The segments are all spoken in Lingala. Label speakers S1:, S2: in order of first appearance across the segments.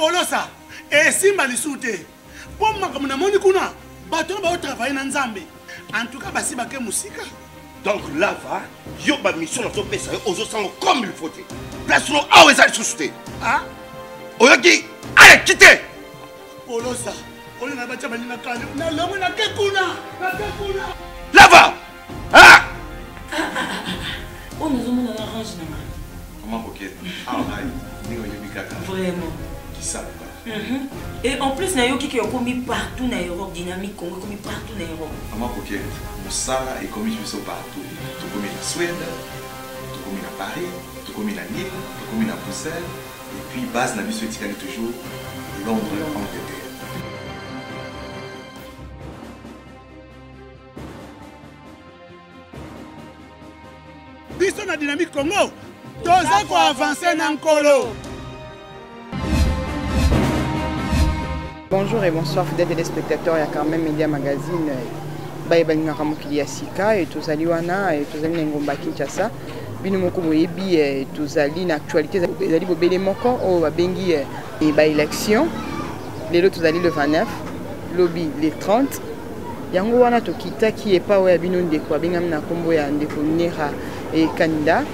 S1: apolosa esimba lisusu te mpo makambo namoni kuna bato oyo baotravaille na nzambe en tout cas basi bake mosika donc lava
S2: yo bamission nazopesa yo ozosango comme il faut te place no awa eza lisusu te ah?
S1: oyoki
S2: ale kite olosa
S1: olinga batya baninga kale nalongo nake kuna nake kuna lava
S3: Ah! oyo nazomona na range na ngai koma kokete
S2: awa ndenge oyebi kaka
S3: vraiment kisabuka
S2: mhm. et
S3: en plus nayoki ke okomi partout na europe dynamique congo ekomi partout na europe koma kokete
S4: mosala ekomi biso partout tokomi na swede tokomi na paris tokomi na nil tokomi na bruxelles et puis base na biso etikali toujours londres angleterre
S1: biso na dynamique congo toza koavanse
S5: na nkolo bonjour et bonsoir fidèle téléspectateur ya carmen media magazine baye balingaka mokili ya sika e tozali wana e tozali na engumba kinshasa bino moko boyebi e, tozali na actualité ezali bobele moko oyo babengi e, e, baélection lelo tozali le 29 lobi le 30 Yango wana tokitaki epa oyo ya bino ndeko abengami na kombo ya ndeko Nera e Kanida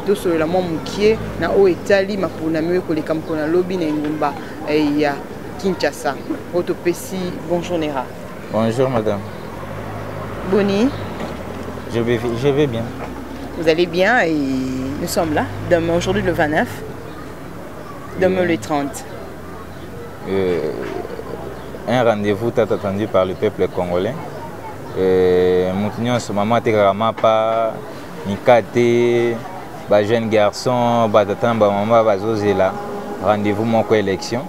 S5: tosolola mwa mokie na oyo etali maponami oyo ekoleka mokolo na lobi na engumba eh, ya Kinshasa oyo topesi bonjour Nera. Bonjour madame. Boni.
S6: Je vais, je vais bien. Vous allez bien
S5: et nous sommes là. Demain, aujourd'hui le 29. Demain le 30. euh,
S6: un rendez-vous tant attendu par le peuple congolais euh, moto nyonso mama atekaka mapa mikate bajeune garçon batata na bamama bazozela rendez-vous moko élection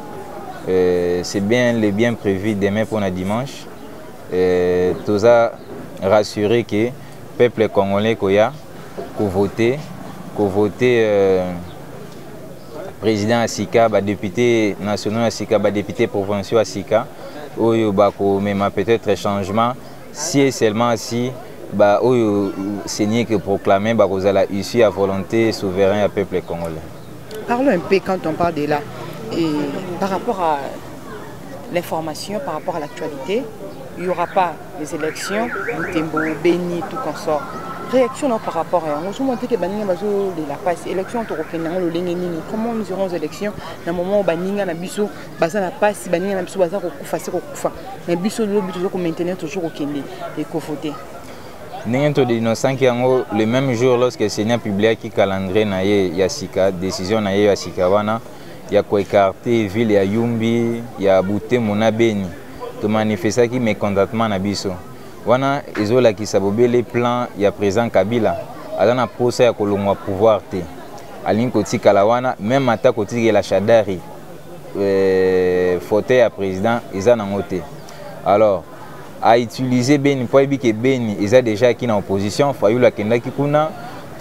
S6: euh, c'est bien le bien prévu demain mpona dimanche euh, toza rassuré que peuple congolais koya kovote kovote euh, président ya sika badepute nationaux ya sika badepute provinciaux ya sika oyo bakomema peut-être changement si et seulement si baoyo seigneur ke proclame bakozala issu ya volonté souverain ya peuple congolais parlons un
S5: peu quand on parle de là et par rapport à l'information par rapport à l'actualité il y aura pas les élections butembo beni tout consort réaction na par rapport à yango ozomona te ke baninga bazolela mpasi élection tokokende yango lolenge nini comment nous irons élection na moment oyo baninga na biso baza na mpasi baninga na biso baza kokufa se kokufa na biso lobi toza komaintenir toujours kokende ekovote ndenge
S6: todenosanki yango le même jour lorsque seigneur publiaki calendrier na ye ya sika décision na ye ya sika wana ya ko ecarte ville ya Yumbi, ya Butembo na Beni. To manifestaki mecontentement na biso. Wana ezo lakisa bobele plan ya president Kabila aza na posa ya kolongwa pouvoir te. Alingi kotikala wana meme ata kotikela Shadari euh, fauteuil ya president eza nango te. Alors a utiliser Beni mpo ayebi ke Beni eza deja aki na opposition Fayulu akendaki kuna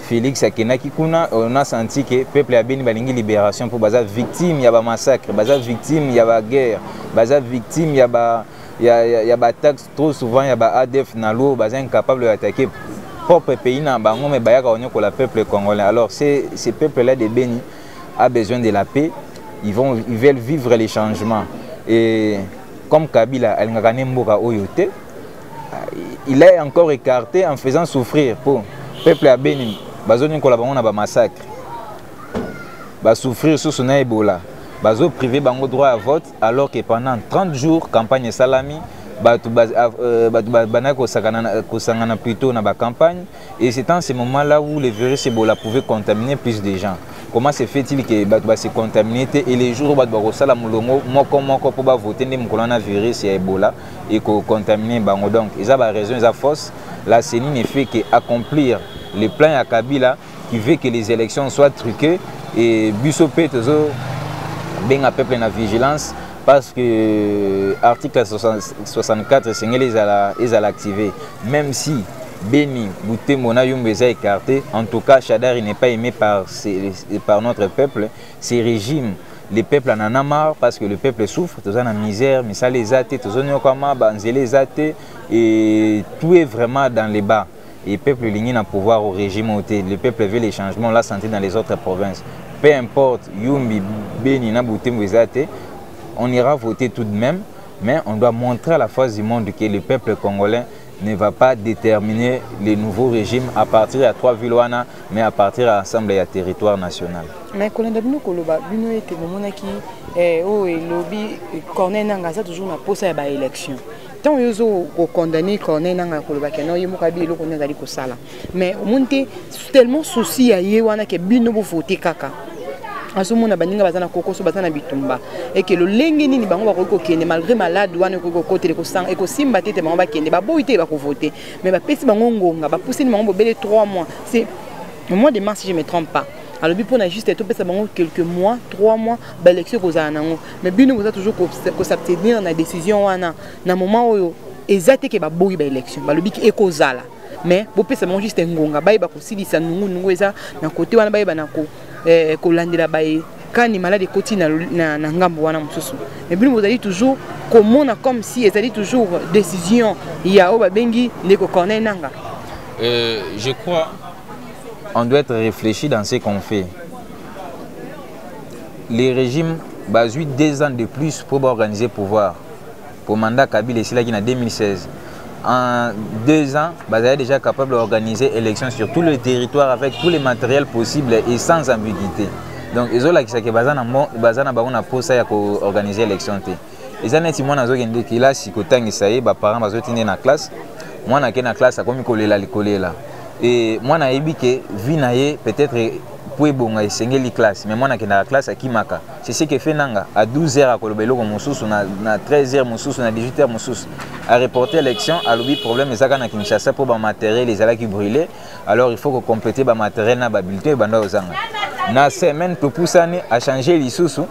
S6: Félix akendaki kuna on a senti que peuple ya Beni balingi libération mpo baza victime ya ba massacre baza victime ya ba guerre baza victime ya ba ya, ya, ya ba taxe trop souvent ya ba ADF na l'eau baza incapable ya attaquer propre pays na bango mais bayaka konyokola peuple congolais alors c'est ce peuple là de Beni a besoin de la paix ils vont ils veulent vivre les changements et comme kabila alingaka ne mboka oyo te il est encore écarté en faisant souffrir po peuple ya beni bazonikola bango na bamassacre basouffrir susu na ebola bazoprive bango droit ya vote alors que pendant 30 jours campagne esalami bato euh, bandaki kosangana plutôt na bacampagne Et c'est en ce moment-là où le virus Ebola pouvait contaminer plus de gens. Comment se fait-il que bato ba se contaminer te et les jours bato bakosala mulongo moko moko mpo bavote nde mokolo wana virus ya Ebola ekocontamine bango donc eza ba raison eza fausse la CENI ne fait que accomplir le plan ya Kabila qui veut que les élections soient truquées et biso mpe tozo benga peuple na vigilance parce que euh, article 64 esengeli ezala ezala activé même si Beni, Boutembo, Nayumba est écarté. En tout cas, Shadari n'est pas aimé par, par notre peuple. Ces régimes le peuple en a marre parce que le peuple souffre toza na misère misala eza te tozoniokwama banzela eza te et tout est vraiment dans les bas et peuple lingi na pouvoir au régime au le peuple veut les changements la santé dans les autres provinces peu importe yumbi beni na butembo eza te on ira voter tout de même mais on doit montrer à la face du monde que le peuple congolais ne va pas déterminer les nouveaux régimes à partir ya trois villes wana mais à partir ya ensemble ya territoire national mais kolanda bino
S5: koloba bino ete bomonaki eh, oyo oh, elobi corneille nanga aza toujours na mposa ya baélection ntango yo ozo kokondane corneille nanga koloba ke non ye moko abi eloko nini azali kosala mais omoni te tellement souci ya ye wana ke bino bovote kaka azomona baninga baza na kokoso baza na bitumba eke lolenge nini bango bakoki kokende malgré malade wana ekoki kokotela ekosanga ekosimba te te bango bakende baboyi te bakovote mais bapesi bango ngonga bapusani bango bobele 3 mois c'est au mois de mars si je me trompe pas alobi mpona juste topesa bango quelques mois 3 mois baélection ekozala nango mais bino boza toujours ko s'abstenir na décision wana na moment oyo eza te ke baboyi ba élection balobi ki ekozala mais bopesa bango juste ngonga bayeba kosilisa nungu nungu eza na kote wana bayeba na ko eh, kolandela baye kani malade ekoti na, na, na ngambo wana mosusu mais bino bozali toujours komona comme si ezali toujours décision ya oyo babengi ndeko corneil nanga euh,
S6: je crois on doit être réfléchi dans ce qu'on fait le régime bazwi deux ans de plus mpo baorganiser pouvoir mpo mandat kabila esilaki na 2016 en deux ans bazali déjà capable d'organiser élection sur tout le territoire avec tous les matériels possibles et sans ambiguïté donc ezolakisa ke baza na bango na mposa ya koorganiser élection te eza neti mwana azokende kelasi kotangisa ye baparent bazoti nde na classe mwana ake na classe akomi kolela likolela e mwana ayebi ke vie na ye peut-être mpo ebonga esengeli classe mais mwana akendaka classe akimaka c'est ce que fait nanga à 12 heures akoloba eloko mosusu na, na 13 heures mosusu na 18 heures mosusu areporte élection alobi problème ezaka na kinshasa mpo bamateriel ezalaki brûle alors il faut ko compléter ba matériel na ba bulletin oyo banda ozanga na semaine topusani a changer lisusu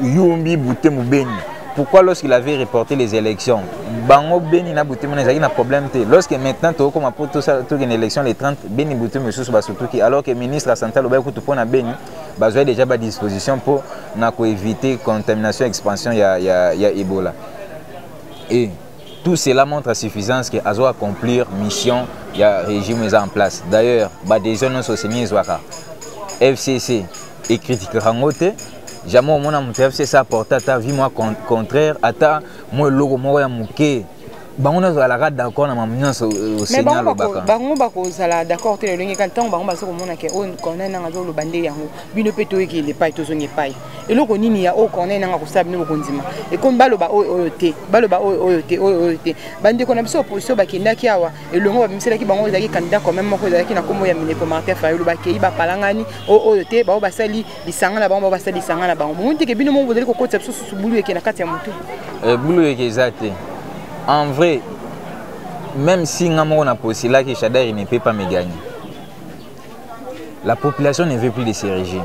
S6: yumbi bute mobeni pourquoi lorsqu'il avait reporté les élections bango beni na bute mona ezalaki na problème te lorsque maintenant tokokoma mpo tokende élection les 30 beni bute mosusu basutuki alors que ministre ya santé alobaki kutu mpo na beni bazwai déjà badisposition mpo na koevite contamination expansion ya, ya, ya ebola e Tout cela montre à suffisance que azo accomplir mission ya régime eza en place. D'ailleurs, ba décision nyonso seni ezwaka FCC ekritikaka yango te jamais omona moto ya fcc aporte ata vie mwa contraire ata mwa eloko moko ya moke bango nyonso bazalaka d'accord na mamu nyonso euh, oseni alobaka bango bakozala
S5: d'accord te lolenge kani ntango bango baza komona ke oyo oh, cornel nanga azoloba nde yango bino mpe toyekende epai tozonga epai eloko nini ya oyo corneille nanga kosala bino bokondima ekomi baloba oyo oyo te baloba oyo oyo te oyo oyo te bandeko na biso opposition bakendaki awa elongo babimiselaki bango oyo ezalaki candidat quand même moko ezalaki na nkombo ya minepo martin fayulu bakei bapalangani oyo oyo te bango basali lisanga na bango bango basali lisanga na bango bomoni teke bino moko bozali kokotisa biso susu bulu eke na kati ya motu eh, bulu eke eza
S6: te en vrai même si nga moko na posilaki shadari ne peut pas me gagner La population ne veut plus de ce régime.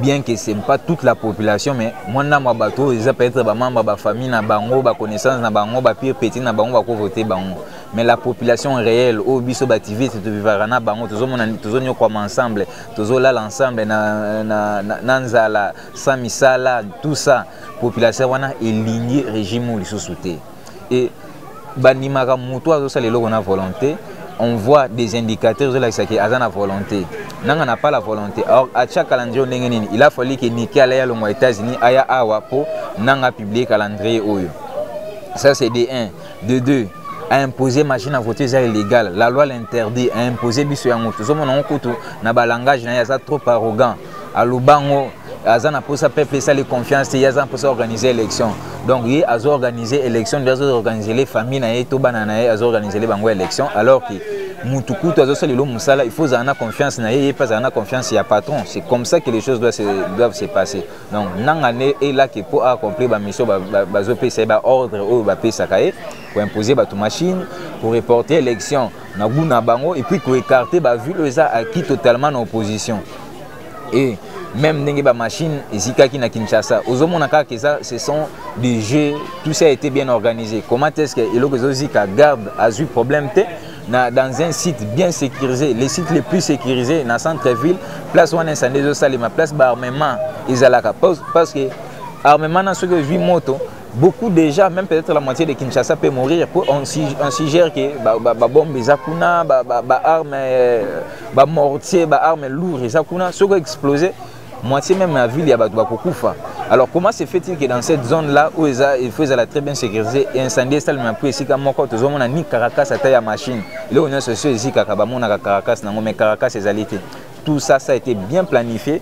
S6: Bien que ce n'est pas toute la population, mais moi, je suis bateau, ils peuvent être membres de la famille, na bango, ba connaissance, na bango, ba pire petit, na bango, ba voter bango. Mais la population réelle, au biso bativiste, tu vivras na bango, tous on comme ensemble, tous on là ensemble, na na na nzala, samisala, tout ça. Population wana est lignée régime ou les sous-soutés. et bandimaka moto azosala eloko na volonté on voit des indicateurs ezolakisa ke aza na volonté nanga na pas la volonté or atia calendrier ndenge nini il a fallu ke niki alaya longwa états-unis aya awa mpo nanga publie calendrier oyo ça c'est de 1 de 2 a imposer machine à voter eza illégal la loi l'interdit a imposer biso yango tozomona yango kutu na balangage na ye aza trop arrogant alobango aza na mposa peuple esali confiance te ye aza na mposa organiser élection donc ye azo organiser élection nde azo organiser le famille na ye to bana na ye azo organiser le bango élection alors que mutu kutu azosala elo mosala il faut ozala na confiance na ye ye mpe azala na confiance ya patron c'est comme ça que les choses doivent se, doivent se passer donc nanga nde elaki mpo accomplir bamission bazopesa ye baordre oyo bapesaka ye koimpose bato machine koreporte élection na gout na bango et puis ko écarter ba ville oyo eza acquis totalement na opposition et même ndenge ba machine ezikaki na Kinshasa ozomona kaka eza ce sont des jeux tout ça a été bien organisé comment est-ce que eloko ezozika garde azui problème te na, dans un site bien sécurisé les sites les plus sécurisés na centre ville place wana incendie ezosalema place baarmement ezalaka parce que armement na soki ozwi moto beaucoup déjà même peut-être la moitié de Kinshasa peut mourir pour on, on suggère que ba, ba, ba bombe eza kuna ba, ba, ba arme euh, ba mortier ba arme lourd eza kuna soko exploser moitié même la ville ya bato bakokufa alors comment se fait-il que dans cette zone là oyo eza il faut ezala très bien sécurisé et incendie esalema mpo esika moko tozomona ni caracas ata ya machine eloko nyonso esio ezikaka bamonaka caracas nango mais caracas ezali te tout ça ça a été bien planifié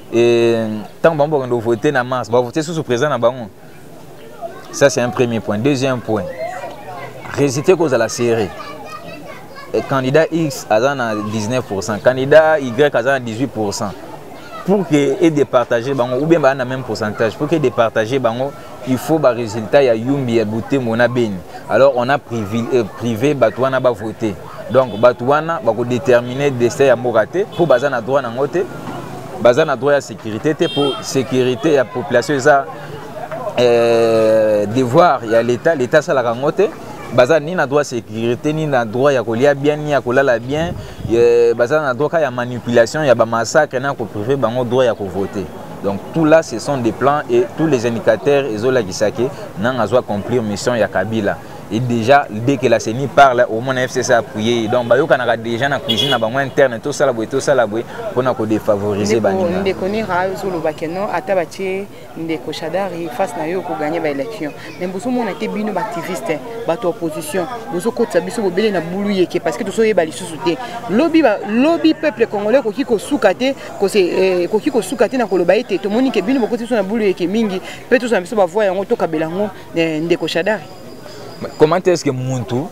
S6: et ntango bango bakende kovote na mars bavote susu président na bango ça c'est un premier point deuxième point résultat ekozala serré et candidat x aza na 19 pourcent candidat y aza na 18 pourcent pour que edepartage bango ou bien baa na même pourcentage pour que edepartage bango il faut barésultat ya yumbi ya butembo na beni alors on a privé, euh, privé bato wana bavote donc bato wana bakodetermine destin ya mboka te mpo baza na droit nango te baza na droit ya sécurité te mpo sécurité ya population eza eh, devoir ya l'état l'état asalaka yango te baza ni na droit sécurité ni na droit ya kolia bien ni ya kolala bien eh, baza na droit ka ya manipulation ya bamassacre na koprive bango droit ya kovote donc tout là ce sont des plans et tous les indicateurs ezolakisa ke nanga azo accomplir mission ya kabila et déjà dès que la CENI parle au moins la FCC a appuyé donc bayokanaka déjà na cuisine na bango interne tosala boye tosala boye mpona kodefavoriser baninga ndeko nira ozoloba
S5: ke non ata batie ndeko shadari face na yo okoganye baélection mais bozomona te bino baactiviste bato ya opposition bozokotisa biso bobele na bulu yeke parce que tozoyeba lisusu te lobi lobi peuple congolais ekoki kosuka te eh, ekoki kosuka te na koloba ete tomoni ke bino bokotisi biso na bulu yeke mingi mpe tozala biso bavoi yango tokabela yango eh, ndeko shadari comment
S6: est ce que muntu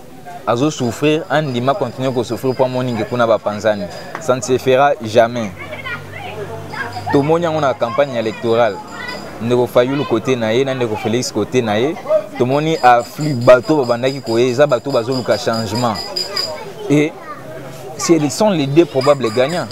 S6: azo souffrir andima continue kosouffrir mpo amoni nge kuna bapanzani ça ne se fera jamais tomoni yango na campagne électorale ndeko fayulu kote na ye na ndeko félix kote na ye tomoni afflux bato babandaki koye eza bato bazoluka changement e ce sont les deux probables gagnants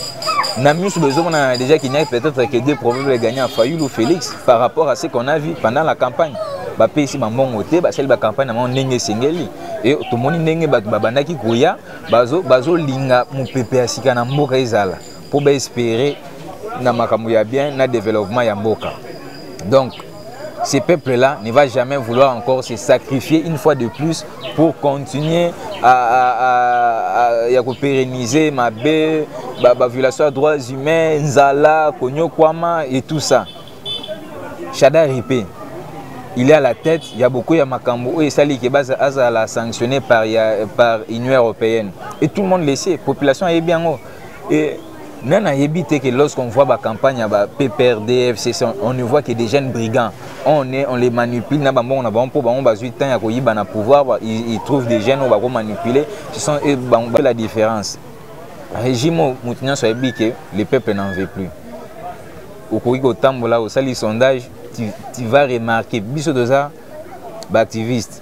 S6: na miso bezomona déjà qu'il n'y a peut-être que deux probables gagnants fayulu ou félix par rapport à ce qu'on a vu pendant la campagne bapesi bambongo te basali bacampagne na bango ndenge esengeli e tomoni ndenge bato babandaki koya bazolinga bazo mopepe ya sika na mboka ezala mpo baespere na makambo ya bien na développement ya mboka donc ce peuple là ne va jamais vouloir encore se sacrifier une fois de plus pour continuer à, à, à, à ya kopérenniser mabe baviolation ba ya droits humains nzala konyokwama et tout ça shada ripe il est à la tête ya beaucoup ya makambo oyo esali ke azala sanctionné par, ya, par union européenne et tout le monde le sait population ayebi yango Et nani ayebi te que lorsqu'on voit ba campagne ya ba PPRD FCC on ne voit que des jeunes brigands on est on les manipule na bambongo na bango mpo bango bazwi temps ya koyiba na pouvoir ils, ils trouvent des jeunes oyo bako manipuler ce sont eux bango la différence régime oyo moto nyonso ayebi que le peuple n'en veut plus okoki kotambola osali sondage tu, tu vas remarquer biso toza baactiviste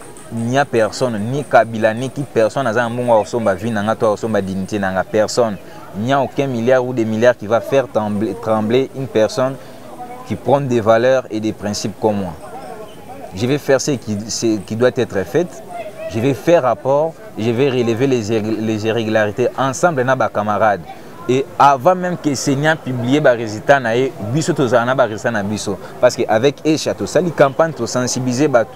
S6: ninia personne ni kabila ni ki personne aza na mbongo akosomba vie na nga to akosomba dignité na nga personne il n'y a aucun milliard ou des milliards qui va faire trembler, trembler une personne qui prône des valeurs et des principes comme moi je vais faire ce qui, ce qui doit être fait je vais faire rapport je vais relever les, les irrégularités ensemble na bacamarades et avant même que seigneur publie barésultat na ye biso tozala na barésultat na biso parce que avec echa tosali campagne tosensibilize bato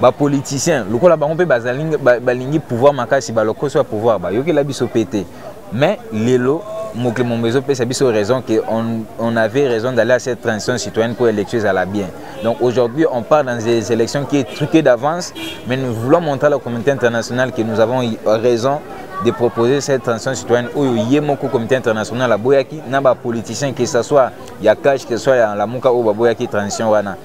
S6: bapoliticien lokola bango mpe balingi pouvoir makasi balokoso ya pouvoir bayokela biso mpe te mais lelo mokili momba ezopesa biso raison que on, on avait raison d'aller à cette transition citoyenne pour élection ezala bien donc aujourd'hui on part dans des élections qui est truquée d'avance mais nous voulons montrer à la communauté internationale que nous avons raison de proposer cette transition citoyenne oyo ye moko comité international aboyaki na bapoliticien que ce soit ya cash que ce soit ya lamuka oyo baboyaki transition wana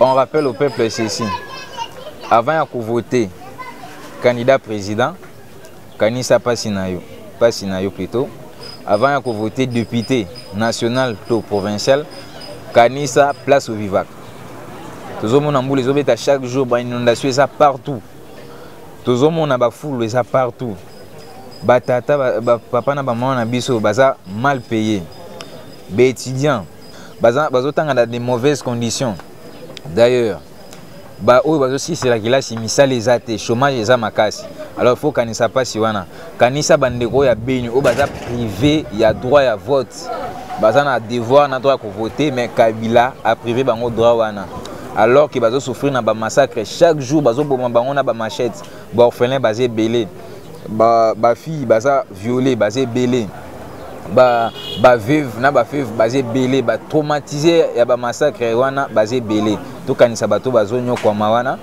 S6: On rappelle au peuple ceci. Avant ya voter candidat président, kanisa pasi na yo, pasi na yo plutôt. Avant ya voter député national to provincial, kanisa place au vivac. tozomona mbula ezobeta chaque jour bainondation eza partout tozomona bafulu eza partout batata bapapa ba, ba na bamama na biso baza mal paye baétudiant baza bazotanga na des mauvaises conditions d'ailleurs baoyo bazosilisa kelasi misala eza te chômage eza makasi alors faut kanisa mpasi wana kanisa bandeko oyo ya beni oyo baza prive ya droit ya vote baza na devoir na droit ya kovote mais kabila aprive bango droit wana alors que bazosouffrir na bamassacre chaque jour bazoboma bango na bamachete ba orphelin baza ebele ba ba fille baza violée baza ebele ba ba veuve na ba veuve baza ebele ba traumatisé ya ba massacre wana baza ebele tokanisa bato bazonyokwama wana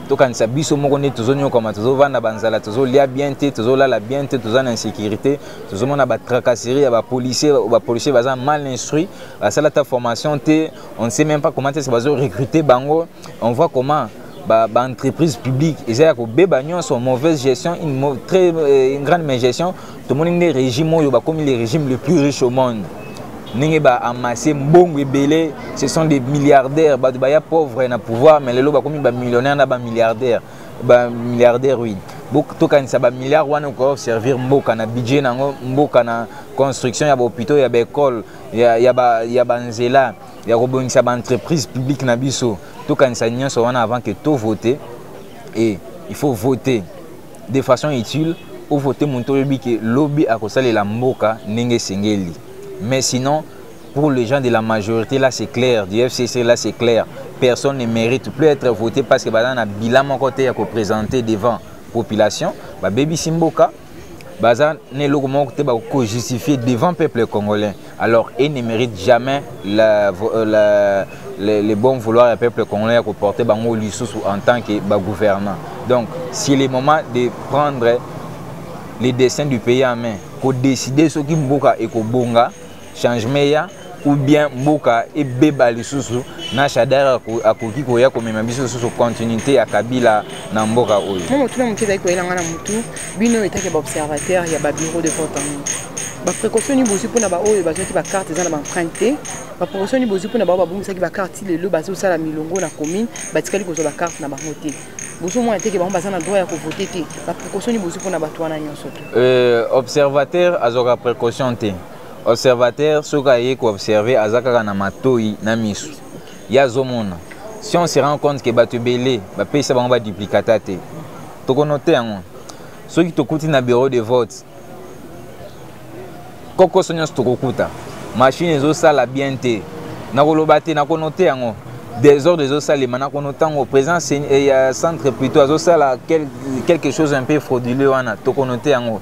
S6: tokanisa biso moko nde tozonyokwama tozovanda banzala tozolia bien te tozolala bien te toza na insécurité tozomona batracasserie ya bapolicier bapolicier baza mal instruit basala ta formation te on ne sait même pas comment est ce bazo recruter bango on voit comment ba, ba entreprise publique eza ya kobeba nyonso mauvaise gestion une, mau très, euh, une grande gestion tomoni nde régime oyo bakomi le régime le plus riche au monde ndenge baamasse mbongo ebele ce sont des milliardaires bato baya pauvre na pouvoir mais lelo bakomi bamillionnaire na bamilliardaire bamilliardaire oui tokanisa bamilliard wana okoya koservir mboka na budget na yango mboka na construction ya bahôpitaux ya baekole ya banzela ya, ya, ya ya kobongisa ba entreprise publique na biso tokanisa nyonso wana avant que to vote et il faut voter de façon utile ovote moto oyebi ke lobi akosalela mboka ndenge esengeli mais sinon pour les gens de la majorité là c'est clair du fcc là c'est clair personne ne mérite plus être voté parce que baza na bilan moko te ya koprésente devant population babebisi mboka baza na eloko moko te bakojustifie devant peuple congolais alors il ne mérite jamais la, euh, la, le, le bon vouloir ya peuple congolais ya koporte bango lisusu en tant que bagouvernant donc c'est le moment de prendre le destin du pays en main kodeside soki mboka ekobonga changement eya ou bien mboka ebeba lisusu na shadar akoki koya komema biso lisusu continuité ya kabila na mboka oyo mo motuna moke ezali koyela
S5: ngai na motu bino etake baobservateur ya babureau de vote yango baprécaution nini bozwi mpo na baoyo bazwaki bakarte eza na baemprinte te baprécaution nini bozwi mpo na baoyo babungisaki bakarte ti lelo bazosala milongo na commune batikali kozwa bakarte na bango te bozomona teke bango baza na droit ya kovote te baprécaution nini bozwi mpo na bato wana nyonso te euh, observateur
S6: azwaka précaution te observateur soki aye ko observer aza kaka na matoyi na misu ye azomona si on se rend compte ke bato ebele bapesa bango baduplicata te tokonote yango soki tokuti na bureau de vote kokoso nyonso tokokuta mashine ezosala bien te nakoloba te nakonote yango desordre ezosalema nakono ntango président eh, ya centre plutôt azosala quelque chose un peu frauduleux wana tokonote yango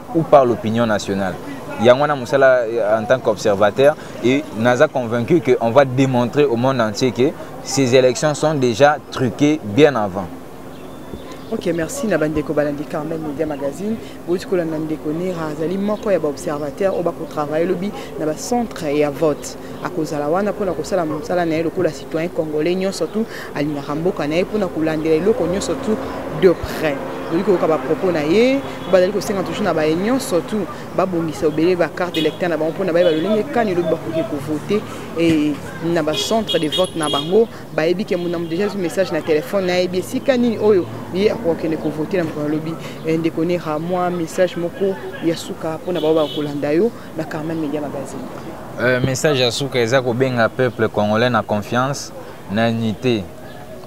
S6: ou par l'opinion nationale yango wana mosala euh, en tant qu'observateur et naza convaincu que on va démontrer au monde entier que ces élections sont déjà truquées bien avant ok
S5: merci na bandeko balandi carmel media magazine bouti kolanda ndeko nera azali moko ya baobservateur oyo bakotravaille lobi na bacentre ya vote akozala wana mpona kosala mosala na ye lokola citoyen congolais nyonso tu alingaka mboka na ye mpona kolandela eloko nyonso tu de près tokoki koyoka bapropos na ye bazali kosenga toujours na baye nyonso tu babongisa obele bacarte électeur na bango mpo na bayeba lolenge kani elobi bakoki kovote e na bacentre de vote na bango bayebi ke monamu déjà ezwi message na telefone nayebi esika nini oyo ye akokende kovote na mokolo alobi eh, ndeko nera mwa message moko ya suka mpo na bao bakolanda yo na Karma Media Magazine. Euh, message ya
S6: suka eza kobenga peuple congolais na confiance na unité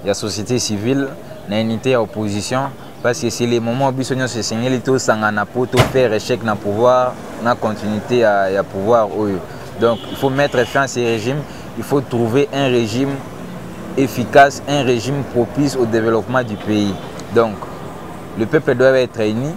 S6: ya société civile na unité ya opposition parce que c'est le moment biso nyonso esengeli tosangana mpo tofaire échec na pouvoir na continuité ya, ya pouvoir oyo donc il faut mettre fin à ces régimes il faut trouver un régime efficace un régime propice au développement du pays donc le peuple doit être uni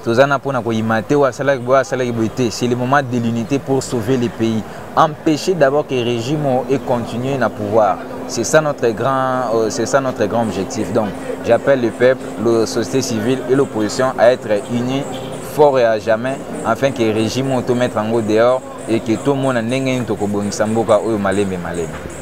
S6: toza na mpona koyima te oyo asalaki boye asalaki boye te c'est le moment de l'unité pour sauver le pays empêcher d'abord que régime oyo econtinue na pouvoir c'est ça notre grand euh, c'est ça notre grand objectif donc j'appelle le peuple la société civile et l'opposition à être unis fort et à jamais afin que régime oyo tomettre yango dehors et que tomona ndenge nini tokobongisa mboka oyo malembe malembe